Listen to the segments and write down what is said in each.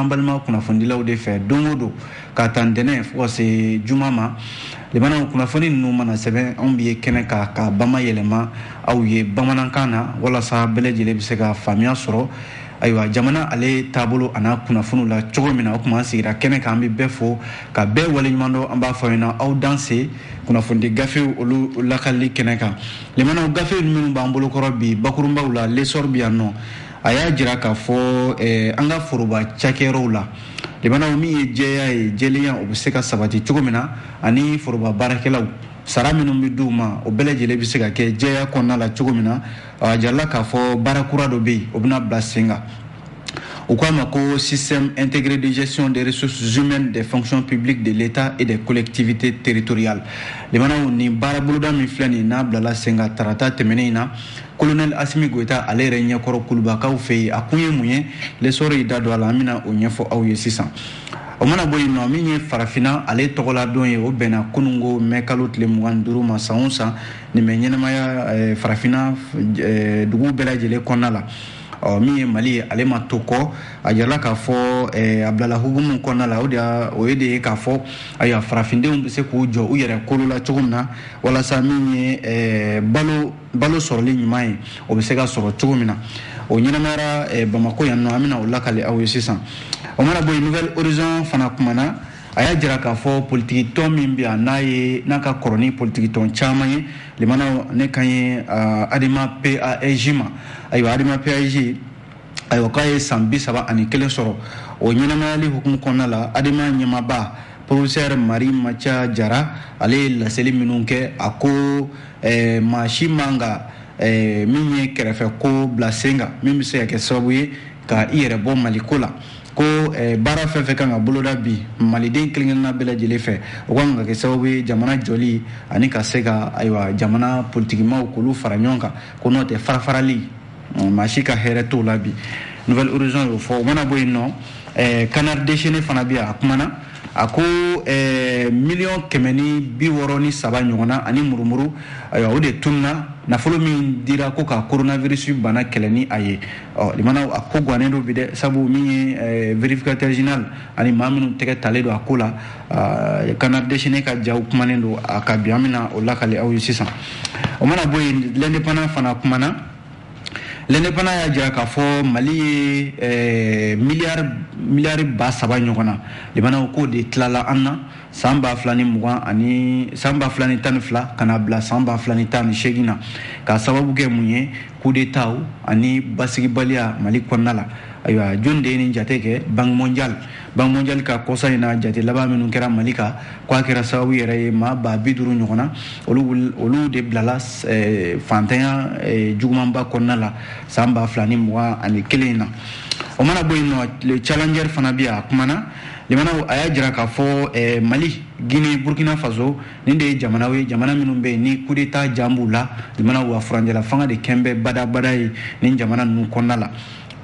an balima kunnafonidilaw de fɛ don o don k'a ta ntɛnɛn fo ka se juma ma limanaw kunnafoni ninnu mana sɛbɛn anw bɛ ye kɛnɛ kan k'a bamayɛlɛma aw ye bamanankan na walasa bɛɛ lajɛlen bɛ se ka faamuya sɔrɔ ayiwa jamana ale taabolo a n'a kunnafoniw la cogo min na o tuma an sigira kɛnɛ kan an bɛ bɛɛ fo ka bɛɛ waleɲuman dɔn an b'a fɔ ɲɛna aw danse kunnafonidi gafew olu lakalili kɛnɛ kan limanaw gafe minnu b'an bolokɔrɔ bi bakurunbaw la l'essor bɛ yan nɔ a y'a jira k'a fɔ eh, an ka foroba cakɛyɔrɔw la limanaw min ye jɛya ye jɛlenya o bɛ se ka sabati cogo min na ani foroba baarakɛlaw sara minnu bɛ di u ma o bɛɛ lajɛlen bɛ se ka kɛ jɛya kɔnɔna la cogo min na a jirala k'a fɔ baara kura dɔ bɛ yen o bɛna bila sen kan u k'a ma ko système intégré de gestion des ressources humaines des fonctions publiques de l'état et des collectivités territoriales limanaw nin baara boloda min filɛ nin n'a bilala sen kan tarata tɛmɛnen in na kolonɛli asimi goyita ale yɛrɛ ɲɛkɔrɔ kulubakaw fɛ yen a kun ye mun ye l'essor y'i da don a la an bɛna o ɲɛfɔ aw ye sisan o mana bɔ yen nɔ min ye farafinna ale tɔgɔladon ye o bɛnna kununko mɛ kalo tile mugan ni duuru ma san o san nin bɛ ɲɛnamaya eh, farafinna eh, dugu bɛɛ lajɛlen kɔnɔna la ɔ min ye mali ye ale ma to kɔ a jirala k'a fɔ eh, a bilala hukumu kɔnɔna la o de o ye de ye k'a fɔ ayiwa farafindenw bɛ se k'u jɔ u yɛrɛ kolo la cogo min na walasa min ye balo balo sɔrɔli ɲuman ye o bɛ se ka sɔrɔ cogo min na o ɲɛnamayara eh, bamako yan nɔ an bɛna o lakali aw ye sisan o mana bɔ yen nouvel horizon fana kumana a y'a jira k'a fɔ politikitɔn min bɛ yan n'a ye n'a ka kɔrɔ ni politikitɔn caman ye limanaw ne kan ye adema pasj ma ayiwa adema pasj ayiwa k'a ye san bi saba ani kelen sɔrɔ o ɲɛnamayali hukumu kɔnɔna la adema ɲɛmaaba professeur marimanca jara ale ye laseli minnu kɛ a ko eh, maa si man ka eh, min ye kɛrɛfɛ ko bila sen kan min bɛ se ka kɛ sababu ye ka i yɛrɛ bɔ mali ko la ko eh, baara fɛn fɛn kan ka boloda bi maliden kelenkelenna bɛɛ lajɛlen fɛ o kan ka kɛ sababu ye jamana jɔli ani ka se ka ayiwa jamana politikimaaw k'olu fara ɲɔgɔn kan ko n'o tɛ farafarali maa si ka hɛrɛ t'o la bi nouvel horizon y'o fɔ o mana bɔ yen nɔ eh, canard déchaîné fana bɛ yan a kumana a ko eh, miliyɔn kɛmɛ ni bi wɔɔrɔ ni saba ɲɔgɔnna ani murumuru ayiwa o de tununa nafolo min dira ko ka coronavirus bana kɛlɛ ni a ye ɔ limanaw a ko gannen don bi dɛ sabu min ye eh, vérificateur général ani maa minnu tɛgɛ talen don a ko la canard déchaîné ka jaw kumanen don a kan bi an bɛna o lakali aw ye sisan o mana bɔ yen l'indépendant fana kumana l'indépendant y'a jira k'a fɔ mali ye eh, miliyari miliyari ba saba ɲɔgɔnna limanaw k'o de tilala an na san ba fila ni mugan ani san ba fila ni tan ni fila ka na bila san ba fila ni tan ni seegin na k'a sababu kɛ mun ye kudeta ani basigibaliya mali kɔnɔna la ayiwa jɔni de ye nin jate kɛ banque mondiale banque mondiale ka kɔsa in na jate laban minnu kɛra mali kan k'a kɛra sababu yɛrɛ ye maa ba bi duuru ɲɔgɔn na olu olu de bilala eh, fantanya eh, jugumanba kɔnɔna la san ba fila ni mugan ani kelen in na o mana bɔ yen nɔ le challenger fana bɛ yan a kumana limanaw a y'a jira k'a fɔ eh, mali guinée burkina faso nin de ye jamanaw ye jamana minnu bɛ yen ni kudeta jan b'u la jamana wa furancɛla fanga de kɛn bɛ badabada ye nin jamana ninnu kɔnɔna la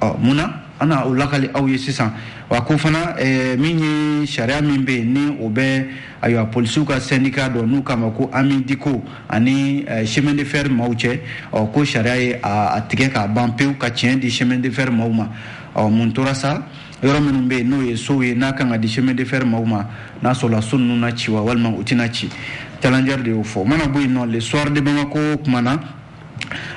ɔ mun na an na o lakali aw ye sisan wa ko fana eh, min ye sariya min bɛ yen ni o bɛ ayiwa polisiw ka sɛndika dɔ n'u k'a ma ko ami diko ani eh, chemin de fer maaw cɛ ɔ ko sariya ye a tigɛ k'a ban pewu ka tiɲɛ di chemin de fer maaw ma ɔ mun tora sa yɔrɔ minnu bɛ yen n'o ye sow ye n'a kan ka di chemin de fer maaw ma n'a sɔrɔla so ninnu na ci wa walima u tɛna ci challenger de y'o fɔ o mana bɔ yen nɔ le soir de Bamako kumana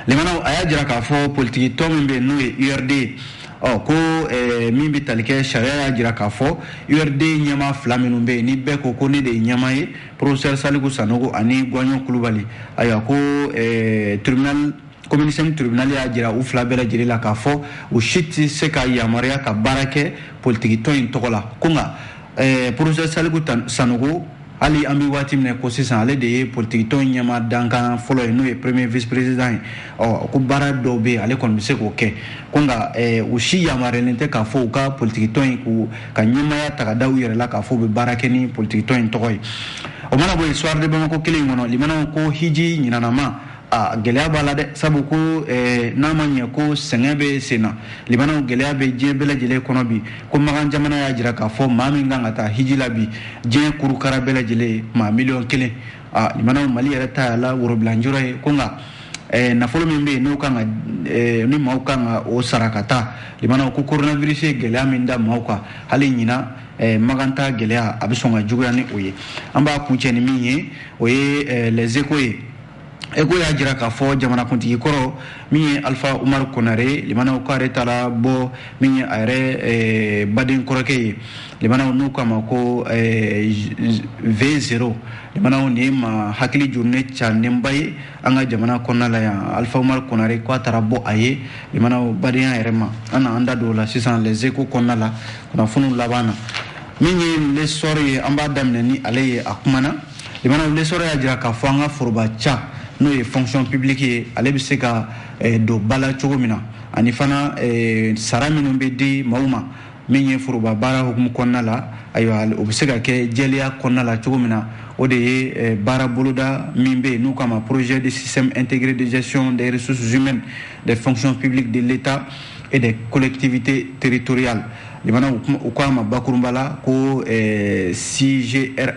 limanaw a y'a jira k'a fɔ politiki tɔn min bɛ yen n'o ye URD ye ɔ ko eh, min bɛ tali kɛ sariya y'a jira k'a fɔ URD ɲɛmaa fila minnu bɛ yen ni bɛɛ ko ko ne de ye ɲɛmaa ye professeur Saliku Sanogo ani Guwaɲɔn Kulubali ayiwa ko eh, tribunal komini sɛnki tribinali y'a jira u fila bɛɛ lajɛlen la k'a fɔ u si tɛ se ka yamaruya ka baara kɛ politikitɔn in tɔgɔ la ko nka eh, professeur saliku sanogo hali an bɛ waati min na ko sisan ale de ye politikitɔn ɲɛmaa dankan fɔlɔ ye n'o ye premier vice président ye ɔ ko baara dɔw bɛ yen ale kɔni bɛ se k'o kɛ ko nka eh, u si yamaruyalen tɛ k'a fɔ u ka politikitɔn in k'u ka ɲɛmaaya ta ka da u yɛrɛ la k'a fɔ u bɛ baara kɛ ni politikitɔn in tɔgɔ ye o mana bɔ yen soir de bamako kelen in kɔnɔ limanaw ko hiji ɲinanama a gɛlɛya b'a la dɛ sabu ko eh, n'a ma ɲɛ ko sɛgɛn bɛ sen na limanaw gɛlɛya bɛ diɲɛ bɛɛ lajɛlen kɔnɔ bi ko makan jamana y'a jira k'a fɔ maa min kan ka taa hiji la bi diɲɛ kurukara bɛɛ lajɛlen maa miliyɔn kelen a limanaw mali yɛrɛ ta y'a la worobilanjɔrɔ ye ko nka eh, nafolo min bɛ yen n'o kan ka eh, ni maaw kan ka o sara ka taa limanaw ko coronavirus ye gɛlɛya min da maaw kan hali ɲinan Eh, makantaa gɛlɛya a bɛ sɔn ka juguya ni o ye an b'a kuncɛ ni min ye o ye eh, les échos ye échos y'a jira k'a fɔ jamanakuntigi kɔrɔ min ye alifa umaru konare limanaw k'ale taara bɔ min ye a yɛrɛ eh, baden kɔrɔkɛ ye limanaw n'u k'a ma ko eh, v zero limanaw nin ye maa hakili jurunen cannenba ye an ka jamana kɔnɔna la yan alifa umaru konare k'a taara bɔ a ye limanaw badenya yɛrɛ ma an na an da don o la sisan les échos kɔnɔna la kunnafoniw laban na min ye l'essor ye an b'a daminɛ ni ale ye a kumana Limanaw l'Essor y'a jira k'a fɔ an ka foroba ca n'o ye fonction publique ye ale bɛ se ka eh, don ba la cogo min na ani fana eh, sara minnu bɛ di maaw ma min ye foroba baara hukumu kɔnɔna la ayiwa o bɛ se ka kɛ jɛlenya kɔnɔna la cogo min na o de ye eh, baara boloda min bɛ yen n'u k'a ma projet de système intégré de gestion des ressources humaines des fonctions publiques de l'état et des collectivités territoriales limanaw u k'a ma bakurunba la ko eh, sigrh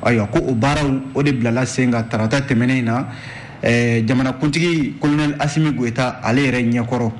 ayiwa ko o baaraw o de bilala sen kan tarata tɛmɛnen in na eh, jamanakuntigi kolonɛl asimi goyita ale yɛrɛ ɲɛkɔrɔ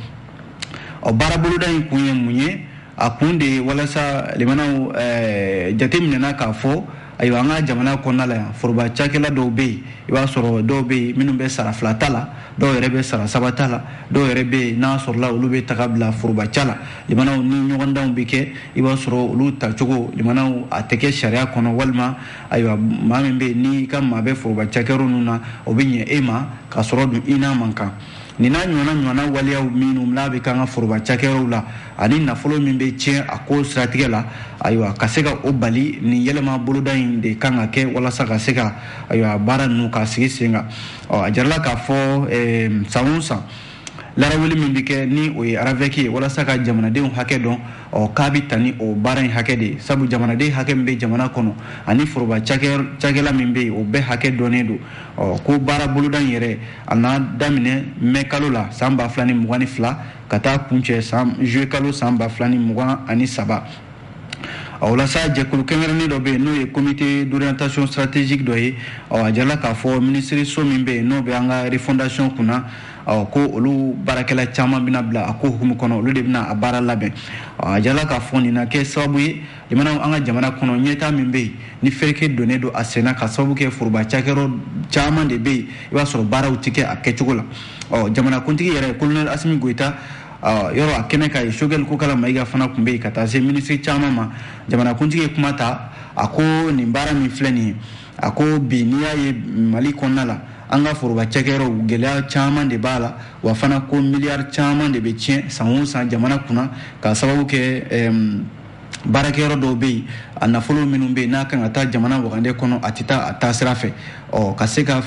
ɔ baaraboloda in kun ye mun ye a kun de ye walasa limanaw eh, jate minɛna k'a fɔ ayiwa an ka jamana kɔnɔna la yan foroba cakɛla dɔw bɛ yen i b'a sɔrɔ dɔw bɛ yen minnu bɛ sara fila ta la dɔw yɛrɛ bɛ sara saba ta la dɔw yɛrɛ bɛ yen n'a sɔrɔla olu bɛ ta ka bila foroba ca la limanaw ni ɲɔgɔndanw bɛ kɛ i b'a sɔrɔ olu tacogo limanaw a tɛ kɛ sariya kɔnɔ walima ayiwa maa min bɛ yen n'i ka maa bɛ foroba cakɛyɔrɔ ninnu na o bɛ ɲɛ e ma ka sɔrɔ dun i n'a man kan nin n'a ɲɔgɔnna ɲɔgɔnna waleyaw minnu n'a bɛ k'an ka foroba cakɛyɔrɔw la ani nafolo min bɛ tiɲɛ a ko siratigɛ la ayiwa ka se ka o bali nin yɛlɛma boloda in de kan ka kɛ walasa ka se ka ayiwa baara ninnu ka sigi sen kan ɔ a jarala k'a fɔ san o san laraweli min bɛ kɛ ni o ye aravɛki ye walasa ka jamanadenw hakɛ dɔn ɔ k'a bɛ taa ni o baara in hakɛ de ye sabu jamanaden hakɛ min bɛ jamana kɔnɔ ani foroba cakɛla min bɛ yen o bɛɛ hakɛ dɔnnen don ɔ ko baara boloda in yɛrɛ a na daminɛ mɛ kalo la san ba fila ni mugan ni fila ka taa kuncɛ san juillet kalo san ba fila ni mugan ani saba a o la sa jɛkulu kɛrɛnkɛrɛnnen dɔ bɛ yen n'o ye comité d'orientation stratégique dɔ ye ɔ a jala k'a fɔ minisiriso min bɛ yen n'o bɛ an ka refondation kunna ɔ ko olu baarakɛla caman bɛna bila a ko hukumu kɔnɔ olu de bɛna a baara labɛn ɔ a jala k'a fɔ nin na kɛ sababu ye limanaw an ka jamana kɔnɔ ɲɛtaa min bɛ yen ni fereke donnen don a senna ka sababu kɛ foroba cakɛyɔrɔ caman de bɛ yen i b'a sɔrɔ baaraw tɛ kɛ a kɛcogo la ɔ jamanakuntigi yɛrɛ kolonɛli asimi goyita jɔra a kɛnɛ kan yen sogɛli kokala mayiga fana tun bɛ yen ka taa se minisiri caman ma jamanakuntigi ye kuma ta a ko nin baara min filɛ nin ye a ko bi n'i y'a ye mali kɔnɔna la an ka foroba cakɛyɔrɔw gɛlɛya caman de b'a la wa fana ko miliyari caman de bɛ tiɲɛ san o san jamana kunna ka sababu kɛ baarakɛyɔrɔ dɔw bɛ yen a nafolo minnu bɛ yen n'a kan ka taa jamana wagande kɔnɔ a tɛ taa a taasira fɛ ɔ ka se ka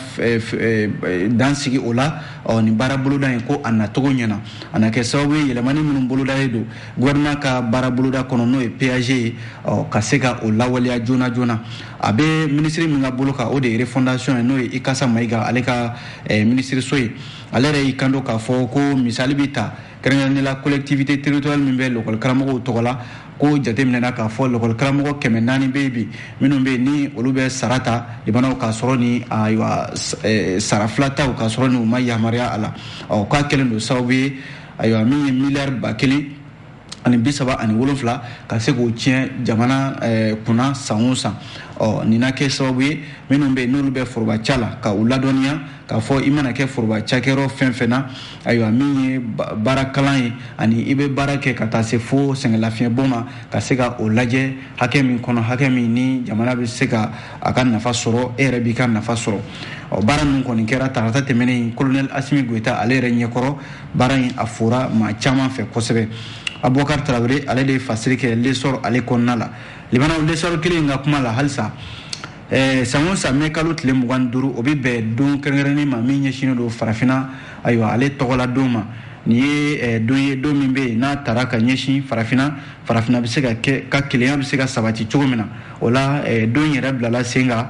dan sigi o la ɔ nin baara boloda in ko a nacogo ɲɛna a na kɛ sababu ye yɛlɛmani minnu bolodalen don gouvernement ka baara boloda kɔnɔ n'o ye pag ye ɔ ka se ka o lawaleya joona joona a bɛ minisiri min ka bolo kan o de ye refondation ye n'o ye ikasa mayiga ale ka minisiriso ye ale yɛrɛ y'i kanto k'a fɔ ko misali bɛ ta kɛrɛnkɛrɛnnenya la collectivité territoriale min bɛ lɔkɔli karamɔgɔw tɔgɔ la ko jateminɛna k'a fɔ lɔkɔli karamɔgɔ kɛmɛ naani bɛ yen bi minnu bɛ yen ni olu bɛ sara ta limanaw k'a sɔrɔ ni ayiwa eh, sara fila taw k'a sɔrɔ ni u ma yamaruya a la ɔ k'a kɛlen don sababu ye ayiwa min ye miliyɔn ba kelen ani bi saba ani wolonfila ka se k'o tiɲɛ jamana eh, kunna san o san ɔ nin na kɛ sababu ye minnu bɛ yen n'olu bɛ foroba ca la ka u ladɔnniya k'a fɔ i mana kɛ foroba cakɛyɔrɔ fɛn fɛn na ayiwa min ye baara kalan ye ani i bɛ baara kɛ ka taa se fo sɛgɛnlafiɲɛbɔ ma ka se ka o lajɛ hakɛ min kɔnɔ hakɛ min ni jamana bɛ se ka a ka nafa sɔrɔ e yɛrɛ b'i ka nafa sɔrɔ ɔ baara ninnu kɔni kɛra tarata tɛmɛnen kolonɛli asimi goyita ale yɛrɛ ɲɛkɔrɔ baara in a fora maa caman fɛ kosɛbɛ abubakar tarawele ale de ye fasiri kɛ lesɔrɔ ale kɔnɔna la limanaw lesɔrɔ kelen in ka kuma la halisa Eh, san o san mɛ kalo tile mugan ni duuru o bɛ bɛn don kɛrɛnkɛrɛnnen ma min ɲɛsinnen don farafinna ayiwa ale tɔgɔla don ma nin ye eh, don ye don min bɛ yen n'a tara ka ɲɛsin farafinna farafinna bɛ se ka kɛ ka kelenya bɛ se ka sabati cogo min na o la eh, don yɛrɛ bilala sen kan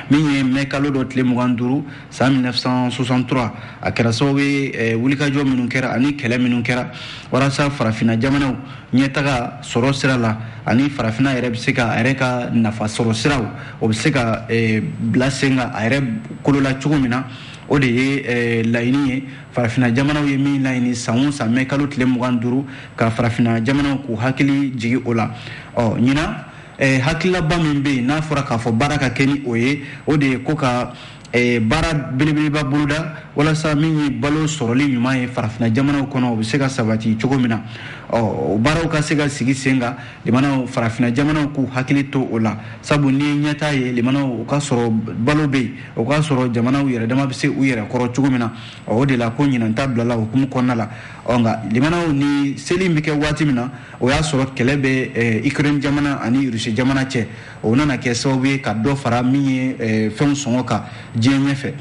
min ye mɛ kalo dɔ tile mugan duuru san 1963 a kɛra sababu ye eh, wulikajɔ minnu kɛra ani kɛlɛ minnu kɛra walasa farafina jamanaw ɲɛtaga sɔrɔ sira la ani farafina yɛrɛ bɛ se ka a yɛrɛ ka nafa sɔrɔ siraw o bɛ se ka eh, bila sen kan a yɛrɛ kolo la cogo min na o de ye eh, laɲini ye farafina jamanaw ye min laɲini san o san mɛ kalo tile mugan duuru ka farafina jamanaw k'u hakili jigi o la ɔ ɲinan eh, hakililaba min bɛ yen n'a fɔra k'a fɔ baara ka kɛ ni o ye o de ye ko ka eh, baara belebeleba boloda walasa min ye balo sɔrɔli ɲuman ye farafina jamanaw kɔnɔ o bɛ se ka sabati cogo min na ɔ o baaraw ka se ka sigi sen kan limanaw farafina jamanaw k'u hakili to o la sabu n'i ye ɲɛtaa ye limanaw o k'a sɔrɔ balo bɛ yen o k'a sɔrɔ jamanaw yɛrɛ dama bɛ se u yɛrɛ kɔrɔ cogo min na o de la ko ɲinanta bilala o hukumu kɔnɔna la ɔ nka limanaw ni seli in bɛ kɛ waati min na o y'a sɔrɔ kɛlɛ bɛ eh, ukraine jamana ani rusi jamana cɛ o nana kɛ sababu ye ka dɔ fara min ye eh, fɛnw sɔngɔ kan diɲɛ ɲɛfɛ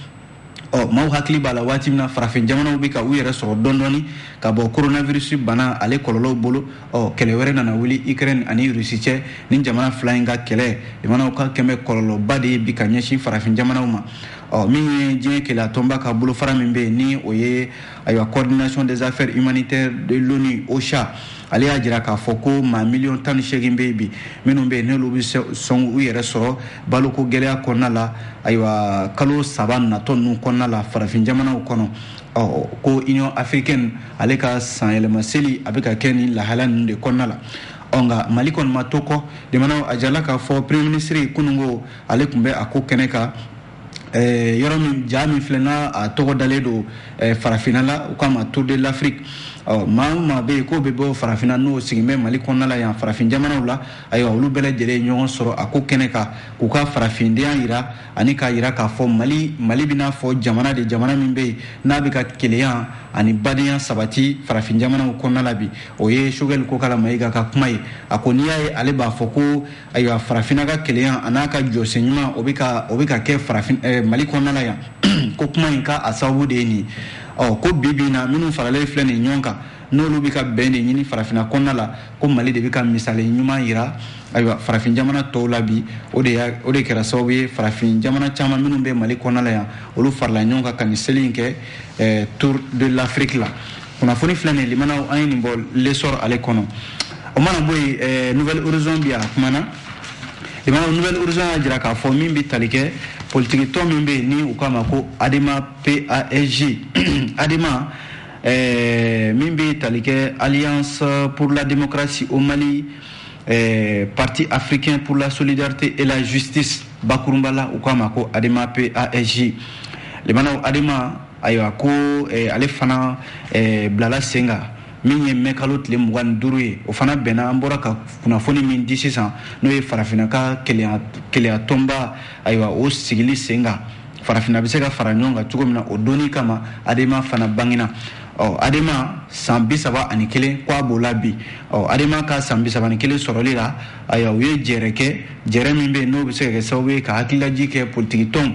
ɔ maaw hakili b'a la waati min na farafin jamanaw bɛ ka u yɛrɛ sɔrɔ dɔɔni ka bɔ coronavirus bana ale kɔlɔlɔw bolo ɔ kɛlɛ wɛrɛ nana wuli ukraine ani rusi cɛ ni jamana fila in ka kɛlɛ jamanaw ka kɛlɛ kɔlɔlɔba de ye bi ka ɲɛsin farafin jamanaw ma ɔ min ye diɲɛ kelenya tɔnba ka bolofara min bɛ yen ni o ye ayiwa coordination des affaires humanitaires de l'ONU OCHA ale y'a jira k'a fɔ ko maa miliyɔn tan ni seegin bɛ yen bi minnu bɛ yen n'olu bɛ sɔn u yɛrɛ sɔrɔ baloko gɛlɛya kɔnɔna la ayiwa kalo saba natɔ ninnu kɔnɔna la farafin jamanaw kɔnɔ ɔ ko union africaine ale ka sanyɛlɛma seli a bɛ ka kɛ nin lahala ninnu de kɔnɔna la ɔ nka mali kɔni ma to kɔ limanaw a jirala k'a fɔ premier ministre kununko ale tun bɛ a ko kɛnɛ kan eh, yɔrɔ min ja min filɛ n'a a tɔgɔ dalen don eh, farafinna la u k'a ma tour de l'afrique ɔ maa o maa bɛ yen k'o bɛ bɔ farafinna n'o sigin bɛ mali kɔnɔna la yan farafin jamanaw la ayiwa olu bɛɛ lajɛlen ye ɲɔgɔn sɔrɔ a ko kɛnɛ kan k'u ka farafindenya yira ani k'a yira k'a fɔ mali mali bɛ n'a fɔ jamana de jamana min bɛ yen n'a bɛ ka kelenya ani badenya sabati farafin jamanaw kɔnɔna la bi o ye sogɛli kokala mayiga ka kuma ye a ko n'i y'a ye ale b'a fɔ ko ayiwa farafina ka kelenya a n'a ka jɔsen ɲuman o bɛ ka o bɛ ka kɛ farafin eh, mali kɔnɔna la yan ko kuma in ka a sababu de ye nin ɔ ko bi bi in na minnu faralen filɛ nin ɲɔgɔn kan n'olu bɛ ka bɛn de ɲini farafina kɔnɔna la ko mali de bɛ ka misali ɲuman yira ayiwa farafin jamana tɔw la bi o de y'a o de kɛra sababu ye farafin jamana caman minnu bɛ mali kɔnɔna la yan olu farala ɲɔgɔn kan ka nin seli in kɛ eh, tour de l'afrique la kunnafoni filɛ nin limanaw an ye nin bɔ l'essor ale kɔnɔ o mana bɔ yen eh, nouvel horizon bi a kumana limanaw nouvel horizon y'a jira k'a fɔ min bɛ tali kɛ politikitɔn min bɛ yen ni u k'a ma ko adema pasj adema eh, min bɛ tali kɛ alliance pour la démocratie au mali eh, parti africain pour la solidarité et la justice bakurunba la u k'a ma ko adema pasj limanaw adema ayiwa ko eh, ale fana eh, bilala sen kan min ye mɛ kalo tile mugan ni duuru ye o fana bɛnna an bɔra ka kunnafoni min di sisan n'o ye farafinna ka kelenya tɔnba ayiwa o sigili sen kan farafinna bɛ se ka fara ɲɔgɔn kan cogo min na o don nin kama adema fana bangina ɔ adema san bi saba ani kelen k'a b'o la bi ɔ adema ka san bi saba ni kelen sɔrɔli la ayiwa u ye jɛɛrɛ kɛ jɛɛrɛ min bɛ yen n'o bɛ se ka kɛ sababu ye ka hakililajigin kɛ politiki tɔnw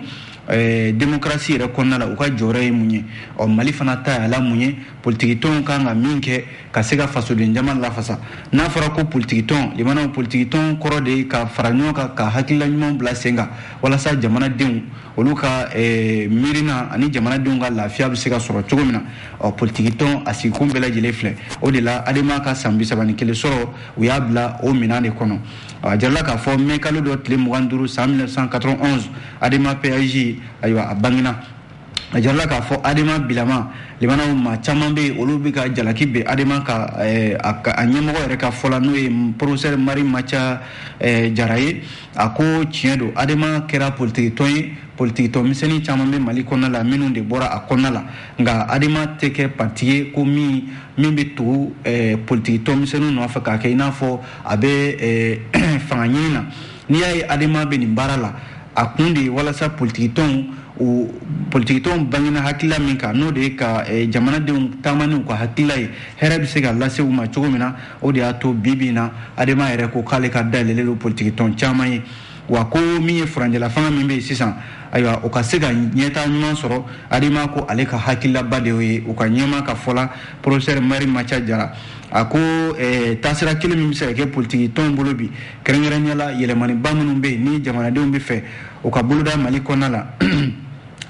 Eh, demokarasi yɛrɛ kɔnɔna la u ka jɔyɔrɔ ye mun ye ɔ mali fana ta y'a la mun ye politikitɔnw kan ka min kɛ ka se ka fasoden jama lafasa n'a fɔra ko politikitɔn limanaw politikitɔn kɔrɔ de ye ka fara ɲɔgɔn kan ka hakilila ɲumanw bila sen kan walasa jamanadenw olu ka eh, miirina ani jamanadenw ka lafiya bɛ se ka sɔrɔ cogo min na ɔ politikitɔn a sigikun bɛɛ lajɛlen filɛ o de la adema ka san bisaba ni kelen sɔrɔ u y'a bila o minan de kɔnɔ a jirala k'a fɔ mɛ kalo dɔ tile mugan duuru san 1991 adema pasj ayiwa a bangina a jirala k'a fɔ adema bilama limanaw maa caman bɛ olu bɛ ka jalaki bin adema kan eh, a ɲɛmɔgɔ yɛrɛ ka fɔ la n'o ye professeur marimantia eh, jara ye a ko tiɲɛ don adema kɛra politikitɔn ye politikitɔn misɛnnin caman bɛ mali kɔnɔna la minnu de bɔra a kɔnɔna la nka adema tɛ kɛ pati ye ko min min bɛ tugu eh, politikitɔn misɛnninw nɔfɛ k'a kɛ i n'a fɔ a bɛ fanga ɲini na n'i y'a ye adema bɛ nin baara la a kun de ye walasa politikitɔnw politikitɔnw bangina hakilila min kan n'o de ye ka jamanadenw taama n'u ka hakilila ye hɛrɛ bɛ se ka lase u ma cogo min na o de y'a to bi bi na adema yɛrɛ ko k'ale ka dayɛlɛlen don politikitɔn caman ye wa ko min ye furancɛla fanga min bɛ yen sisan ayiwa o ka se ka ɲɛtaa ɲuman sɔrɔ adema ko ale ka hakililaba de y'o ye u ka ɲɛmaa ka fɔ la Professeur Mari Macha Jara a ko eh, taasira kelen min bɛ se ka kɛ politiki tɔnw bolo bi kɛrɛnkɛrɛnnenya la yɛlɛmaniba minnu bɛ yen ni jamanadenw bɛ fɛ u ka boloda mali kɔnɔna la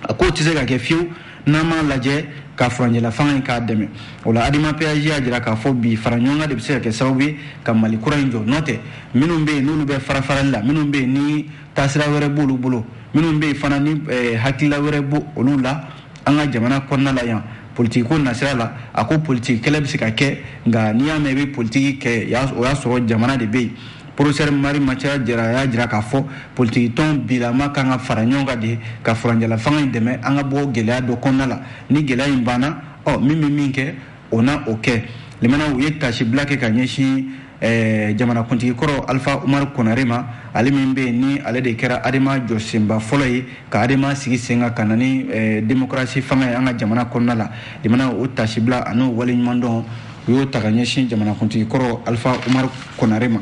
a k'o tɛ se ka kɛ fiyewu n'an m'a lajɛ ka furancɛla fanga in k'a dɛmɛ o la adema pasj y'a jira k'a fɔ bi fara ɲɔgɔn kan de bɛ se ka kɛ sababu ye ka mali kura in jɔ n'o tɛ minnu bɛ yen n'olu bɛ farafarali la minnu bɛ yen ni taasira wɛrɛ b'olu bolo minnu bɛ yen fana ni eh, hakilila wɛrɛ b'olu la an ka jamana kɔnɔna la yan politiki ko nasira la a ko politiki kɛlɛ bɛ se ka kɛ nka n'i y'a mɛn i bɛ politiki kɛ o y'a sɔrɔ jamana de bɛ yen Professeur Mari Macha Jara y'a jira k'a fɔ politikitɔn bilama kan ka fara ɲɔgɔn kan de ka furancɛla fanga in dɛmɛ an ka bɔ gɛlɛya dɔ kɔnɔna la ni gɛlɛya in banna ɔ min bɛ min kɛ o na o kɛ limana u ye taasibila kɛ ka ɲɛsin eh, jamanakuntigi kɔrɔ alifa umaru konare ma ale min bɛ yen ni ale de kɛra adema jɔsenba fɔlɔ ye ka adema sigi sen kan ka na ni eh, demokarasi fanga ye an ka jamana kɔnɔna la limana o taasibila an'o waleɲumandɔn u y'o ta ka ɲɛsin jamanakuntigi kɔrɔ alifa umaru konare ma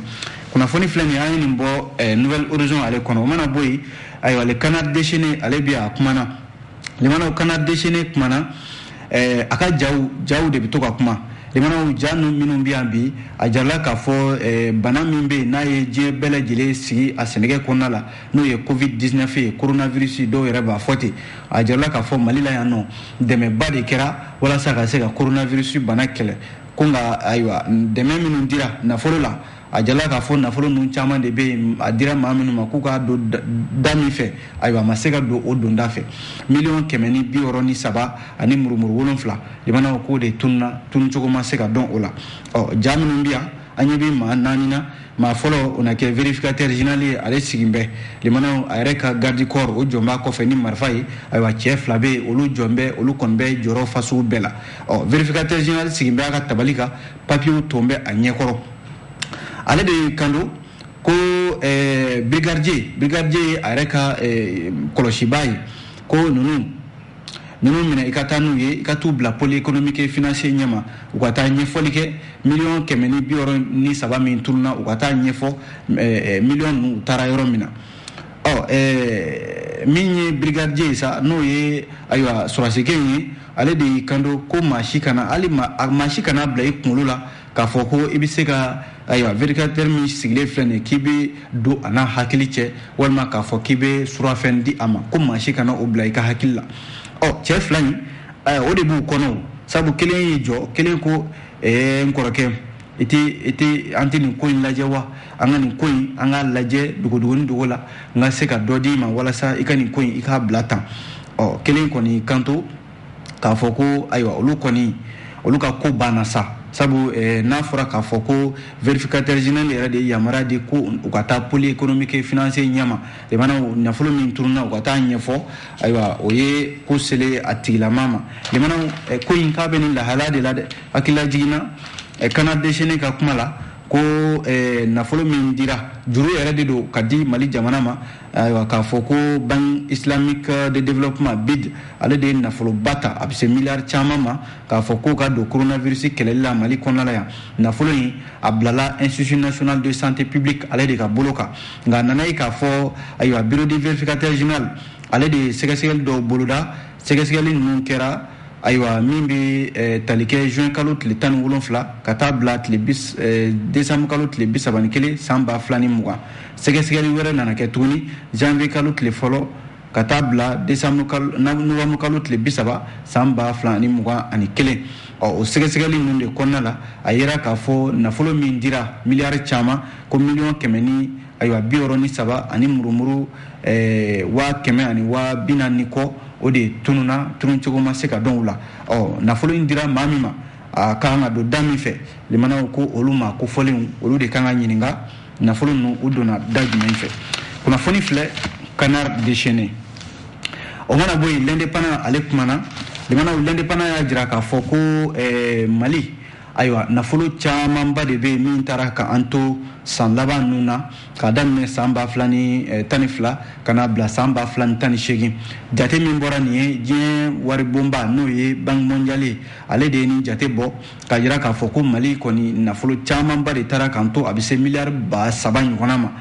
kunnafoni filɛ nin an ye nin bɔ eh, nouvel horizon ale kɔnɔ o mana bɔ yen ayiwa ale canard déchaîné ale bi a kumana limanaw canard déchaîné kumana eh, a ka jaw jaw de bɛ to ka kuma limanaw ja nu minnu bɛ yan bi a jirala k'a fɔ eh, bana min bɛ yen n'a ye diɲɛ bɛɛ lajɛlen sigi a sɛnɛkɛ kɔnɔna la n'o ye covid 19 ye coronavirus dɔw yɛrɛ b'a fɔ ten a jirala k'a fɔ mali la yan nɔ dɛmɛba de kɛra walasa ka se ka coronavirus bana kɛlɛ ko nka ayiwa dɛmɛ minnu dira nafolo la a jirala k'a fɔ nafolo ninnu caman de bɛ yen a dira maa minnu ma k'u k'a don da min fɛ ayiwa a ma se ka don o donda fɛ miliyɔn kɛmɛ ni bi wɔɔrɔ ni saba ani murumuru wolonfila limanaw k'o de tununa tununcogo ma se ka dɔn o la ɔ ja minnu bɛ yan an ɲɛ bɛ maa naani na maa fɔlɔ o na kɛ vérificateur général ye ale sigin bɛ limanaw a yɛrɛ ka garde corps o jɔn b'a kɔfɛ ni marifa ye ayiwa cɛ fila bɛ yen olu jɔn bɛ olu kɔni bɛ jɔrɔ fasugu bɛɛ la ɔ vérificateur général sigin bɛ a ka tabali kan papiyew ton bɛ a ɲɛkɔrɔ ale de y'i kanto ko eh, brigadier brigadier ye a yɛrɛ ka eh, kɔlɔsibaa ye ko nunu ninnu minɛ i ka taa n'u ye i ka t'u bila pôle économique financier ɲɛma u ka taa ɲɛfɔli kɛ miliyɔn kɛmɛ ni bi wɔɔrɔ ni saba min tununa u ka taa ɲɛfɔ eh, eh, miliyɔn ninnu u taara yɔrɔ min na ɔ eh, min ye brigadier ye sa n'o ye ayiwa sɔrɔdasikɛ ye ale de y'i kanto ko maa si kana hali maa si kana bila i kunkolo la k'a fɔ ko i bɛ se ka ayiwa vérificateur min sigilen filɛ nin ye k'i bɛ don a n'a hakili cɛ walima k'a fɔ k'i bɛ surafɛn di a ma ko maa si kana o bila i ka hakili la ɔ cɛ fila in o de b'u kɔnɔ o sabu kelen y'i jɔ kelen ko ɛɛ n kɔrɔkɛ i tɛ i tɛ an tɛ nin ko in lajɛ wa an ka nin ko in an k'a lajɛ dogodogoni dogo la n ka se ka dɔ d'i ma walasa i ka nin ko in i k'a bila tan ɔ kelen kɔni kanto k'a fɔ ko ayiwa olu kɔni olu ka ko banna sa sabu eh, n'a fɔra k'a fɔ ko vérificateur général yɛrɛ de ye yamaruya di ko u ka taa pôle économique financier ɲɛma jamana nafolo min turunna u ka taa ɲɛfɔ ayiwa o ye ko selen a tigilama ma limana eh, ko in k'a bɛ nin lahalaya de la dɛ hakililajigin na eh, canard déchaîné ka kuma la ko nafolo min dira juru yɛrɛ de don ka di mali jamana ma ayiwa k'a fɔ ko banque islamique de développement bid ale de ye nafoloba ta a bɛ se miliyari caman ma k'a fɔ k'o ka don coronavirus kɛlɛli la mali kɔnɔna la yan nafolo in a bilala institut national de santé publique ale de ka bolo kan nka a nana ye k'a fɔ ayiwa bureau de vérificateur général ale de ye sɛgɛsɛgɛli dɔw boloda sɛgɛsɛgɛli ninnu kɛra ayiwa min bɛ eh, tali kɛ juin kalo tile tan ni wolonfila ka taa bila tile eh, décembre kalo tile bi saba ni kelen san ba fila ni mugan Sɛgɛsɛgɛli wɛrɛ nana kɛ tuguni janvier kalo tile fɔlɔ ka taa bila décembre kalo novembre kalo tile bi saba san ba fila ani mugan ani kelen ɔ o sɛgɛsɛgɛli ninnu de kɔnɔna la a yera k'a fɔ nafolo min dira miliyari caman ko miliyɔn kɛmɛ ni ayiwa bi wɔɔrɔ ni saba ani murumuru eh, waa kɛmɛ ani waa bi naani ni kɔ o de tununna tununcogo ma se ka dɔn u la ɔ nafolo in dira maa min ma a ka kan ka don da min fɛ limanaw ko olu maa kofɔlenw olu de kan ka ɲininka nafolo ninnu u donna da jumɛn fɛ kunnafoni filɛ canard déchaîné o mana bɔ yen l'indépendant ale kumana limanaw l'indépendant y'a jira k'a fɔ ko eh, mali ayiwa nafolo camanba de bɛ yen min taara ka an to san laban ninnu na k'a daminɛ san ba fila ni eh, tan ni fila ka n'a bila san ba fila ni tan ni seegin jate min bɔra nin ye diɲɛ waribonba n'o ye banque mondiale ale de ye nin jate bɔ k'a jira k'a fɔ ko mali kɔni nafolo camanba de taara k'an to a bɛ se miliyari ba saba ɲɔgɔnna ma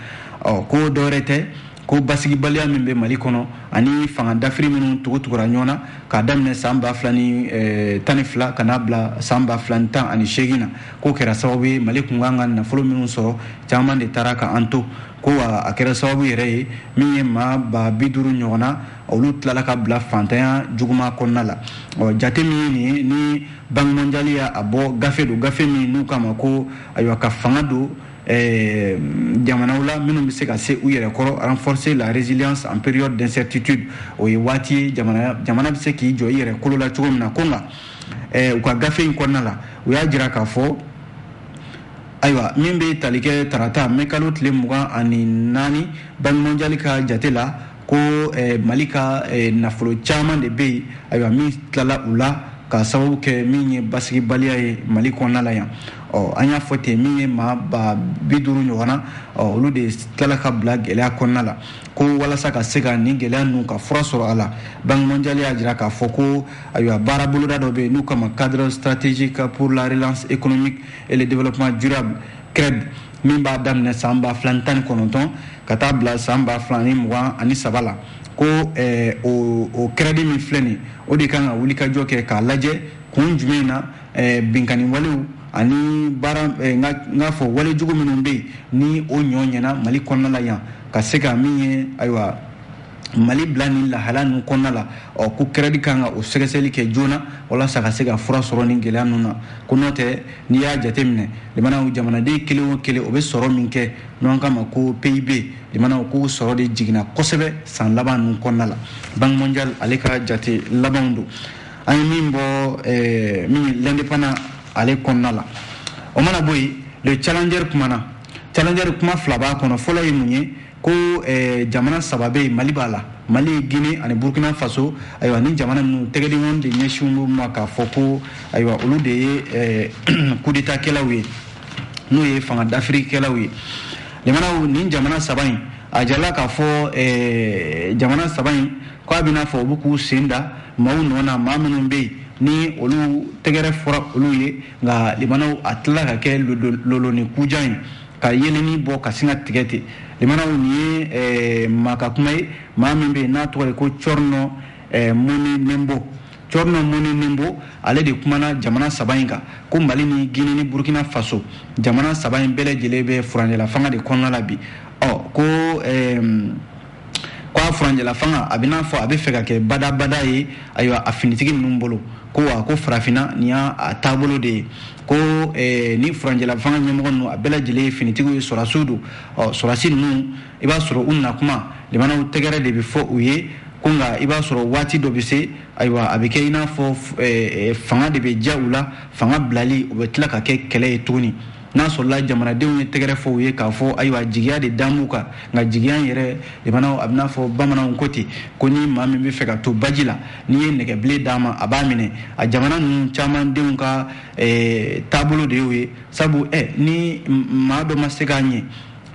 ɔ ko dɔwɛrɛ tɛ ko basigibaliya min bɛ mali kɔnɔ ani fanga dafiri minnu tugutugura ɲɔgɔn na k'a daminɛ san ba fila ni eh, tan ni fila ka n'a bila san ba fila ni tan ani seegin na k'o kɛra sababu ye mali kun kan ka nafolo minnu sɔrɔ caman de taara ka an to ko wa a kɛra sababu yɛrɛ ye min ye maa ba bi duuru ɲɔgɔn na olu tilala ka bila fantanya juguman kɔnɔna la ɔ jate min ye nin ye ni banki mondiali y'a a bɔ gafe don gafe min n'u k'a ma ko ayiwa ka fanga don eh, jamanaw la minnu bɛ se ka se u yɛrɛ kɔrɔ renforcer la résilience en période d'incertitude o ye waati ye jamana jamana bɛ se k'i jɔ i yɛrɛ kolo la cogo min na ko nka eh, u ka gafe in kɔnɔna la u y'a jira k'a fɔ ayiwa min bɛ tali kɛ tarata mɛkalo tile mugan ani naani banki mondiali ka jate la ko eh, mali ka eh, nafolo caman de bɛ yen ayiwa min tilala u la ka sababu kɛ min ye basigibaliya ye mali kɔnɔna la yan ɔ an y'a fɔ ten min ye maa ba bi duuru ɲɔgɔn na olu de tilala ka bila gɛlɛya kɔnɔna la ko walasa ka se ka nin gɛlɛya ninnu ka fura sɔrɔ a la banque mondiale y'a jira k'a fɔ ko ayiwa baara boloda dɔ bɛ yen n'u k'a ma cadre stratégique pour la relance économique et le développement durable CREDD min b'a daminɛ san ba fila ni tan ni kɔnɔntɔn ka taa bila san ba fila ni mugan ani saba la ko eh, o o kɛrɛdi min filɛ nin o de kan ka wulikajɔ kɛ k'a lajɛ kun jumɛn na eh, binkani walew ani baara eh, n k'a fɔ wale jugu minnu bɛ yen ni o ɲɔ ɲɛna mali kɔnɔna la yan ka se ka min ye ayiwa mali bila nin lahala ninnu kɔnɔna la ɔ ko kɛrɛdi kan ka o sɛgɛsɛgɛli kɛ joona walasa ka se ka fura sɔrɔ nin gɛlɛya ninnu na ko n'o tɛ n'i y'a jateminɛ limanaw jamanaden kelen o kelen o bɛ sɔrɔ min kɛ n'an k'a ma ko PIB limanaw k'o sɔrɔ de jiginna kosɛbɛ san laban ninnu kɔnɔna la banque mondiale ale ka jate labanw don an ye min bɔ eh, min ye l'indépendant ale kɔnɔna la o mana bɔ yen le challenger kumana challenger kuma fila b'a kɔnɔ fɔlɔ ye mun ye ko eh, jamana saba bɛ yen mali b'a la mali guinee ani burkina faso ayiwa nin jamana ninnu tɛgɛdenw de ɲɛsin u ma k'a fɔ ko ayiwa olu de ye eh, kudetakɛlaw ye n'o ye fanga dafirikɛlaw ye limanaw nin jamana saba in a jirala k'a fɔ eh, jamana saba in ko a bɛ n'a fɔ u bɛ k'u sen da maaw nɔ na maa minnu bɛ yen ni olu tɛgɛrɛ fɔra olu ye nka limanaw a tilala ka kɛ loloni kujan ye ka yeeleni bɔ ka sin ka tigɛ ten limanaw nin ye eh, maa ka kuma ye maa min bɛ yen n'a tɔgɔ ye ko tierno eh, monénembo tierno monénembo ale de kumana jamana saba in kan ko mali ni guinee ni burkina faso jamana saba in bɛɛ lajɛlen bɛ furancɛlafanga de kɔnɔna la bi ɔ ko eh, ko a furancɛla fanga a bɛ n'a fɔ a bɛ fɛ ka kɛ badabada ye ayiwa a finitigi ninnu bolo ko wa ko farafinna nin y'a taabolo de ye ko eh, nin furancɛla fanga ɲɛmɔgɔ ninnu a bɛɛ lajɛlen ye finitigiw ye sɔrasiw don ɔ sɔrasi ninnu i b'a sɔrɔ u na kuma limanaw tɛgɛrɛ de bɛ fɔ u ye ko nka i b'a sɔrɔ waati dɔ bɛ se ayiwa a bɛ kɛ i n'a fɔ eh, eh, fanga de bɛ diya u la fanga bilali o bɛ tila ka kɛ kɛlɛ ye tuguni n'a sɔrɔla jamanadenw ye tɛgɛrɛ fɔ u ye k'a fɔ ayiwa jigiya de dan b'u kan nka jigiya in yɛrɛ limanaw a bɛ n'a fɔ bamananw ko ten ko ni maa min bɛ fɛ ka to baji la n'i ye nɛgɛbilen d'a ma a b'a minɛ a jamana ninnu caman denw ka eh, taabolo de y'o ye sabu eh, ni maa dɔ ma se k'a ɲɛ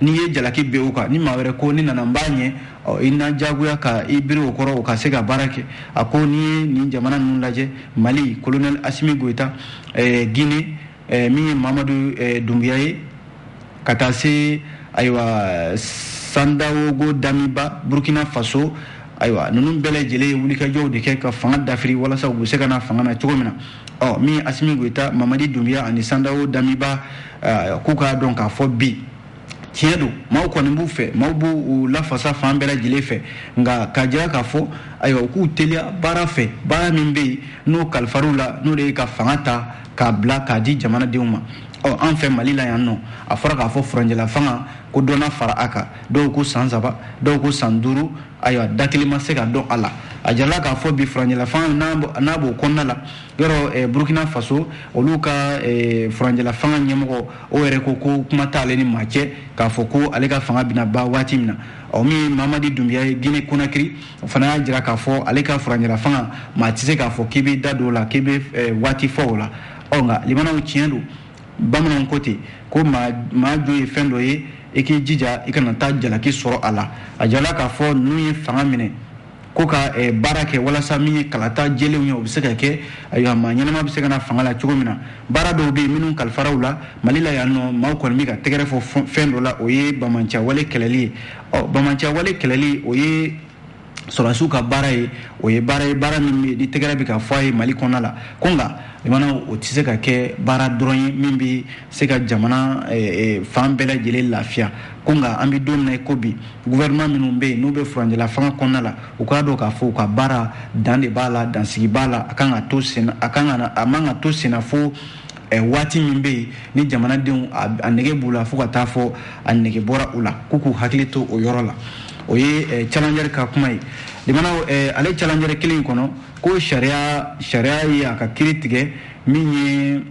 n'i ye jalaki bin o kan ni maa wɛrɛ ko ne nana n b'a ɲɛ i na diyagoya ka i biri o kɔrɔ o ka se ka baara kɛ a ko n'i ye nin jamana ninnu lajɛ mali kolonɛli asimi goyita eh, gine eh, min ye mamadu eh, dunbiya ye ka taa se ayiwa sandawogo damiba burkina faso ayiwa ninnu bɛɛ lajɛlen ye wulikajɔw de kɛ ka fanga dafiri walasa u bɛ se ka na fanga na cogo min na ɔ min ye asimi goyita mamadi dunbiya ani sandawo damiba eh, k'u k'a dɔn k'a fɔ bi tiɲɛ don maaw kɔni b'u fɛ maaw b'u lafasa fan bɛɛ lajɛlen fɛ nka k'a jira k'a fɔ ayiwa u k'u teliya baara fɛ baara min bɛ yen n'o kalifar'u la n'o de ye ka fanga ta k'a bila k'a di jamanadenw ma ɔ an fɛ mali la yan nɔ a fɔra k'a fɔ furanjɛla fanga ko dɔ na fara a kan dɔw ko san saba dɔw ko san duuru ayiwa da kelen ma se ka dɔn a la a jarala k'a fɔ bi furanjɛla fanga n'a b'o kɔnɔna la yɔrɔ eh, burkina faso olu ka eh, furanjɛla fanga ɲɛmɔgɔ o yɛrɛ ko ko kuma t'ale ni maa cɛ k'a fɔ ko ale ka fanga bɛna ban waati min na ɔ min ye mamadi dunbiya ye gine konakiri o fana y'a jira k'a fɔ ale ka furancɛla fanga maa tɛ se k'a fɔ k'i bɛ da don o la k'i bɛ eh, waati fɔ o la ɔ nka limanaw tiɲɛ don bamananw ko ten ko maa jo ye fɛn dɔ ye i k'i jija i kana taa jalaki sɔrɔ a la a jarala k'a fɔ ninnu ye fanga minɛ ko ka eh, baara kɛ walasa min ye kalata jɛlenw ye o bɛ se ka kɛ ayiwa maa ɲɛnama bɛ se ka na fanga la cogo min na baara dɔw bɛ yen minnu kalifar'u la mali la yan nɔ maaw kɔni bɛ ka tɛgɛrɛ fɔ fɛn dɔ la o ye banbaanciyawale kɛlɛli ye ɔ banbaanciyawale kɛlɛli o ye sɔrɔdasiw ka baara ye o ye baara ye baara min bɛ ni tɛgɛrɛ bɛ ka fɔ a ye mali kɔnɔna la ko nka limanaw o tɛ se ka kɛ baara dɔrɔn ye min bɛ se ka jamana eh, eh, fan bɛɛ lajɛlen lafiya ko nka an bɛ don min na ko bi gouvernement minnu bɛ yen n'u bɛ furanjɛla fanga kɔnɔna la u k'a dɔn k'a fɔ u ka baara dan de b'a la dansigi b'a la a kan ka a man ka to sen na fo eh, waati min bɛ yen ni jamanadenw a nege b'u la fo ka taa fɔ a nege bɔra u la k'u k'u hakili to o yɔrɔ la o ye eh, challenger ka kuma ye limanaw eh, ale challenger kelen in kɔnɔ ko sariya ye a ka kiri tigɛ min ye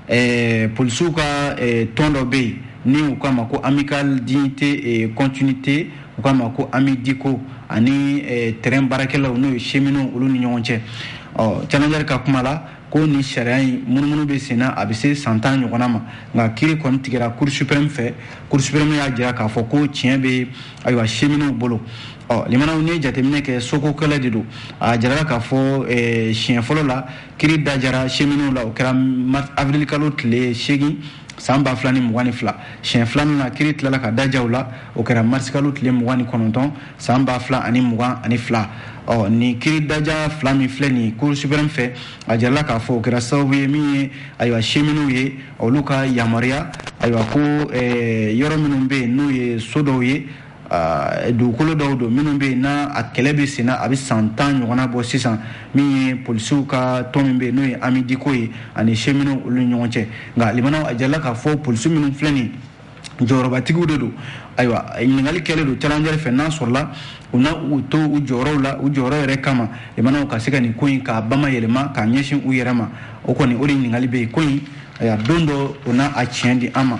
eh, polisiw ka eh, tɔn dɔ bɛ yen ni u k'a ma ko amical dignité et eh, continuité u k'a ma ko amidiko ani eh, tɛrɛn baarakɛlaw n'o ye cheminotw olu ni ɲɔgɔn cɛ ɔ challenger ka kuma la ko nin sariya in munumunu bɛ sen na a bɛ se san tan ɲɔgɔnna ma nka kiri kɔni tigɛra cour suprême fɛ cour suprême y'a jira k'a fɔ ko tiɲɛ bɛ ayiwa cheminotw bolo ɔ limanaw n'i ye jateminɛ kɛ soko kɛlɛ de don a jarala k'a fɔ eh, siɲɛ fɔlɔ la kiri dajara cheminot la o kɛra avril-kalo tile seegin san ba fila ni mugan ni fila siɲɛ filanan na kiri tilala ka dajaw la o kɛra marisikalo tile mugan ni kɔnɔntɔn san ba fila ani mugan ani fila ɔ nin kiri daja fila min filɛ nin cour suprême fɛ a jarala k'a fɔ o kɛra sababu ye min ye ayiwa cheminot ye olu ka yamaruya ayiwa ko eh, yɔrɔ minnu bɛ yen n'o ye so dɔw ye dugukolo dɔw don minnu bɛ yen n'a kɛlɛ bɛ sen na a bɛ san tan ɲɔgɔnna bɔ sisan min ye polisiw ka tɔn min bɛ yen n'o ye amidiko ye ani cheminot olu ni ɲɔgɔn cɛ nka a jala k'a fɔ polisiw minnu filɛ nin jɔyɔrɔbatigiw de don ayiwa ɲininkakali kɛlen don challenger fɛ n'a sɔrɔla u na u to u jɔyɔrɔw la u jɔyɔrɔ yɛrɛ kama limanaw ka se ka nin ko in k'a bayɛlɛma k'a ɲɛsin u yɛrɛ ma o kɔni o de ɲininkakali bɛ yen ko in na don dɔ o n'a a tiɲɛ di an ma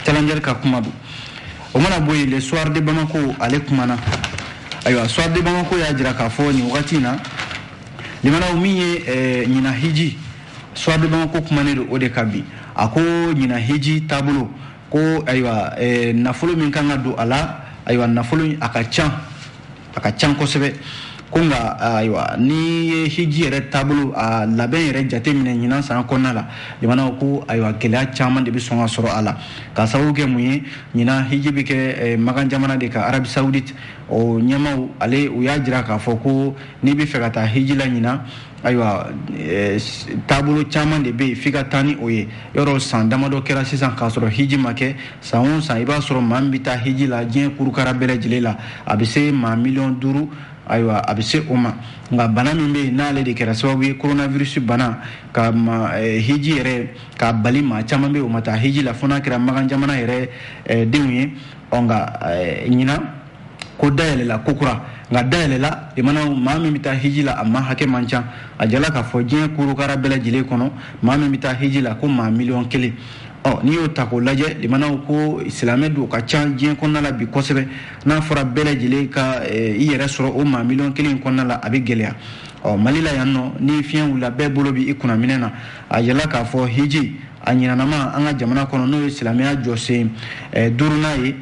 challenger ka kuma don o mana bɔ yen le soir de bamako ale kumana ayiwa soir de bamako y'a jira k'a fɔ nin wagati in na limanaw min ye eh, ɲina hiji soir de bamako kumanen don o de ka bi a ko ɲina hiji taabolo ko ayiwa eh, nafolo min kan ka don a la ayiwa nafolo a ka can a ka can kosɛbɛ ko nka ayiwa n'i ye hiji yɛrɛ taabolo a labɛn yɛrɛ jate minɛ ɲinan san kɔnɔna la jamanaw ko ayiwa gɛlɛya caman de bɛ sɔn ka sɔrɔ a la k'a sababu kɛ mun ye ɲinan hiji bɛ kɛ eh, magan jamana de kan arabi saoudite o ɲɛmaw ale u y'a jira k'a fɔ ko n'i bɛ fɛ ka taa hiji la ɲinan ayiwa eh, taabolo caman de bɛ yen f'i ka taa ni o ye yɔrɔ san damadɔ kɛra sisan k'a sɔrɔ hiji ma kɛ san o san i b'a sɔrɔ maa min bɛ taa hiji la diɲɛ kurukara bɛɛ lajɛlen la a bɛ se maa miliyɔn duuru ayiwa a bɛ se o ma nka bana min bɛ yen n'ale de kɛra sababu ye coronavirus bana ka ma eh, hiji yɛrɛ k'a bali maa caman bɛ yen o ma taa hiji la fo n'a kɛra magan jamana yɛrɛ eh, denw ye ɔ nka ɲinan ko dayɛlɛla ko kura nka dayɛlɛla limanaw maa min bɛ taa hiji la a maa hakɛ man ca a jala k'a fɔ diɲɛ kurukara bɛɛ lajɛlen kɔnɔ maa min bɛ taa hiji la ko maa miliyɔn kelen ɔ n'i y'o ta k'o lajɛ limanaw ko silamɛ don ka ca diɲɛ kɔnɔna la bi kosɛbɛ n'a fɔra bɛɛ lajɛlen ka eh, i yɛrɛ sɔrɔ o maa miliyɔn kelen kɔnɔna la a bɛ gɛlɛya ɔ mali la yan nɔ ni fiɲɛ wulila bɛɛ bolo bɛ i kunna minɛn na a jala k'a fɔ hiji a ɲinanama an ka jamana kɔnɔ n'o ye silamɛya jɔsen eh, duurunan ye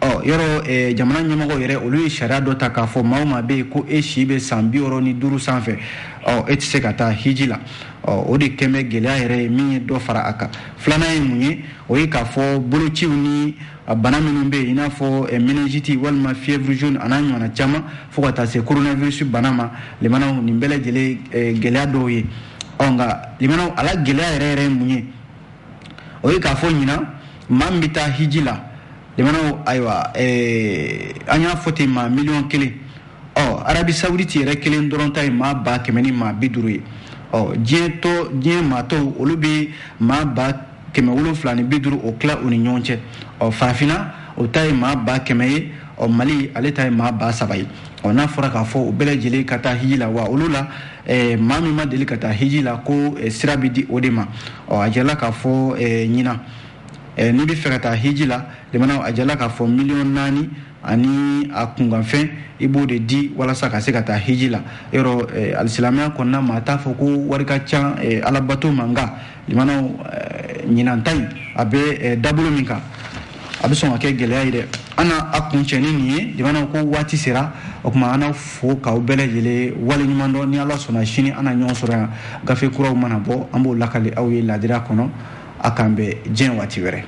ɔ yɔrɔ jamana ɲɛmɔgɔ yɛrɛ olu ye sariya dɔ ta k'a fɔ maa o maa bɛ yen ko e si bɛ san bi wɔɔrɔ ni duuru sanfɛ ɔ e tɛ se ka taa hiji la ɔ o de kɛlen bɛ gɛlɛya yɛrɛ ye min ye dɔ fara a kan filanan ye mun ye o ye k'a fɔ bolociw ni bana minnu bɛ yen i n'a fɔ minɛnjiti walima fièvre jaune a n'a ɲɔgɔnna caman fo ka taa se coronavirus bana ma limanaw nin bɛɛ lajɛlen gɛlɛya dɔw ye ɔ nka limanaw a la gɛlɛya yɛrɛ yɛrɛ ye mun ye o ye k'a fɔ ɲinan maa min bɛ taa hiji la limanaw ayiwa eh, an y'a fɔ ten maa miliyɔn kelen ɔ arabi sawuditi yɛrɛ kelen dɔrɔn ta ye maa ba kɛmɛ ni maa bi duuru ye ɔ diɲɛ tɔ diɲɛ maa tɔw olu bɛ maa ba kɛmɛ wolonfila ni bi duuru o tila u ni ɲɔgɔn cɛ ɔ farafinna o ta ye maa ba kɛmɛ ye ɔ mali ale ta ye maa ba saba ye ɔ n'a fɔra k'a fɔ u bɛɛ lajɛlen ka taa hiji la wa olu la eh, maa min ma deli ka taa hiji la ko eh, sira bɛ di o de ma ɔ a jɛla k'a fɔ eh, ɲinan eh, n'i bɛ fɛ ka taa hiji la limanaw a jɛla k'a fɔ miliyɔn naani ani a kunkanfɛn i b'o de di walasa ka se ka taa hiji la yɔrɔ eh, alisilamɛya kɔnɔna maa t'a fɔ ko wari ka ca eh, alabato ma nka limanaw eh, ɲinan ta in a bɛ eh, dabolo min kan a bɛ sɔn ka kɛ gɛlɛya ye dɛ an na a kuncɛ ni nin ye limanaw ko waati sera o tuma an n'aw fo k'aw bɛɛ lajɛlen waleɲumandɔn ni ala sɔnna sini an na ɲɔgɔn sɔrɔ yan gafe kuraw mana bɔ an b'o lakali aw ye ladira kɔnɔ a k'an bɛn diɲɛ waati wɛrɛ